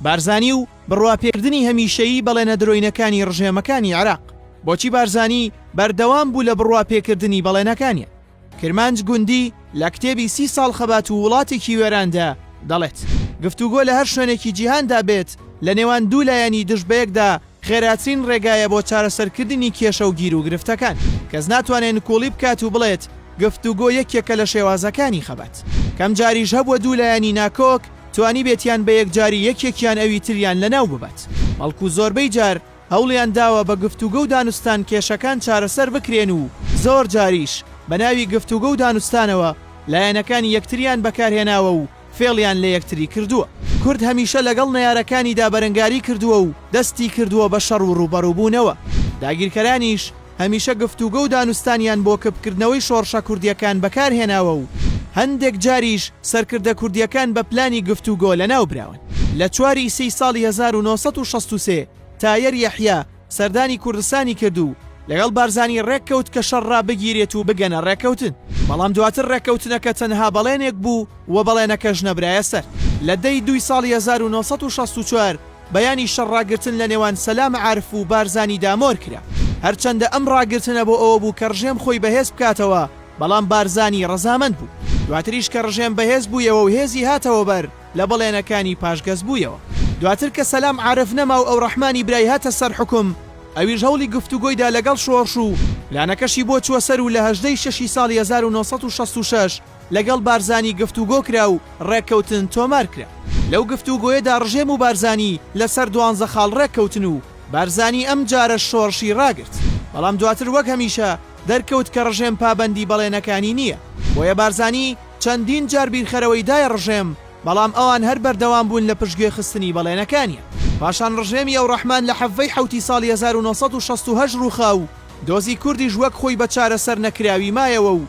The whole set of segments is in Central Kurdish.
بارزانی و بڕواپێکردنی هەمیشەیی بەڵێنە درۆینەکانی ڕژێمەکانی عێراق. بۆچی بارزانی بەردەوام بوو لە بڕواپێکردنی بەڵێنەکانی؟ کرمانج گوندی لە کتێبی سی ساڵ خەبات و وڵاتێکی وێراندا دەڵێت، گفتوگۆ لە هەر شوێنێکی جیهاندا بێت لە نێوان دوو لایەنی دژ بەیەکدا خێراترین ڕێگایە بۆ چارەسەرکردنی کێشە و گیروگرفتەکان. کەس ناتوانێت نکوڵی بکات و بڵێت گفتوگۆ یەکێکە لە شێوازەکانی خەبات. کەم جاریش هەبووە دوو لایەنی ناکۆک توانیبێتیان بە یەکجاری یەکێکیان ئەوی تریان لەناو ببات، بەڵکو زۆربەی جار هەوڵیان داوە بە گفتوگۆ و دانوستان کێشەکان چارەسەر بکرێن و زۆر جاریش بە ناوی گفتوگۆ و دانوستانەوە لایەنەکانی یەکتریان بەکارهێناوە و فێڵیان لە یەکتری کردووە. کورد هەمیشە لەگەڵ نەیارەکانیدا بەرەنگاری کردووە و دەستی کردووە بە شەڕ و ڕووبەڕووبوونەوە. داگیرکەرانیش هەمیشە گفتوگۆ و دانوستانیان بۆ کپکردنەوەی شۆڕشە کوردییەکان بەکار هێناوە و هەندێک جاریش سەرکردە کوردییەکان بە پلانی گفتوگۆ لەناو براون. لە چوار ی سێی ساڵی هەزار و نۆ سەد و شەست و سێ تایەر یەحیا، سەردانی کوردستانی کرد و لەگەڵ بارزانی ڕێککەوت کە شەڕ ڕابگیرێت و بگەنە ڕێککەوتن، بەڵام دواتر ڕێککەوتنەکە تەنها بەڵێنێک بوو و بەڵێنەکەش نەبرایە سەر. لە دە ی دووی ساڵی هەزار و نۆ سەد و شەست و چوار بەیانی شەڕ ڕاگرتن لە نێوان سەلام عارف و بارزانی دا مۆر کرا. هەرچەندە ئەم ڕاگرتنە بۆ ئەوە بوو کە ڕژێم خۆی بەهێز بکاتەوە، بەڵام بارزانی ڕەزامەند بوو. دواتریش کە ڕژێم بەهێز بوویەوە و هێزی هاتەوە بەر، لە بەڵێنەکانی پاشگەز بوویەوە. دواتر کە سەلام عارف نەما و ئەورەحمانی برای هاتە سەر حوکم، ئەویش هەوڵی گفتوگۆی دا لەگەڵ شۆڕش و پلانەکەشی بۆ چووە سەر و لە هەژدە ی شەش ی ساڵی هەزار و نۆ سەد و شەست و شەش لەگەڵ بارزانی گفتوگۆ کرا و ڕێککەوتن تۆمار کرا. لەو گفتوگۆیەدا ڕژێم و بارزانی لە سەر دوانزە خاڵ ڕێک کەوتن و بارزانی ئەم جارەش شۆڕشی ڕاگرت. بەڵام دواتر وەک هەمیشە دەرکەوت کە ڕژێم پابەندی بەڵێنەکانی نییە. بۆیە بارزانی. چەندین جار بیرخەرەوەی دایە ڕژێم، بەڵام ئەوان هەر بەردەوام بوون لە پشتگوێ خستنی بەڵێنەکانیان. پاشان ڕژێمی ئەوڕەحمان لە حەڤڤەی حەوتی ساڵی هەزار و نۆ سەد و شەست و هەشت ڕووخا و دۆزی کوردیش وەک خۆی بە چارەسەر نەکراوی مایەوە و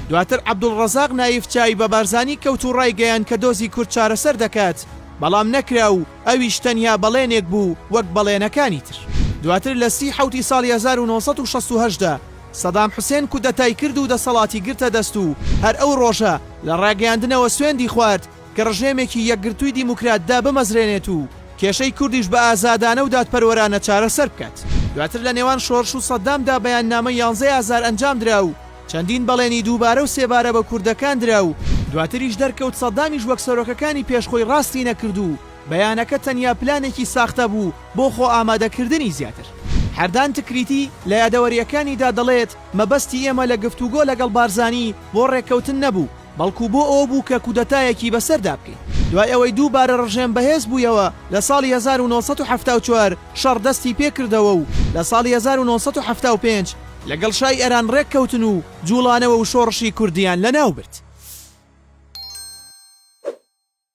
دواتر عەبدوڵڕەزاق نایف چاوی بە بارزانی کەوت و ڕایگەیاند کە دۆزی کورد چارەسەر دەکات، بەڵام نەکرا و ئەویش تەنیا بەڵێنێک بوو وەک بەڵێنەکانی تر. دواتر لە سی حەوتی ساڵی هەزار و نۆ سەد و شەست و هەشت دا، سەدام حوسێن کودەتای کرد و دەسەڵاتی گرتە دەست و هەر ئەو ڕۆژە لە ڕاگەیاندنەوە سوێندی خوارد کە ڕژێمێکی یەکگرتووی دیموکرات دابمەزرێنێت و کێشەی کوردیش بە ئازادانە و دادپەروەرانە چارەسەر بکات. دواتر لە نێوان شۆرش و سەدام دا بەیاننامەی یانزەی ئازار ئەنجام درا و چەندین بەڵێنی دووبارە و سێبارە بە کوردەکان درا و دواتریش دەرکەوت سەدامیش وەک سەرۆکەکانی پێش خۆی ڕاستی نەکرد و بەیانەکە تەنیا پلانێکی ساختە بوو بۆ خۆ ئامادەکردنی زیاتر. حەردان تکریتی لە یادەوەرییەکانیدا دەڵێت، مەبەستی ئێمە لە گفتوگۆ لەگەڵ بارزانی بۆ ڕێککەوتن نەبوو، بەڵکو بۆ ئەوە بوو کە کودەتایەکی بەسەردا بکەین. دوای ئەوەی دووبارە ڕژێم بەهێز بوویەوە لە ساڵی هەزار و نۆ سەد و حەفتا و چوار شەڕ دەستی پێکردەوە و لە ساڵی هەزار و نۆ سەد و حەفتا و پێنج لەگەڵ شای ئێران ڕێککەوتن و جووڵانەوە و شۆڕشی کوردیان لەناوبرد.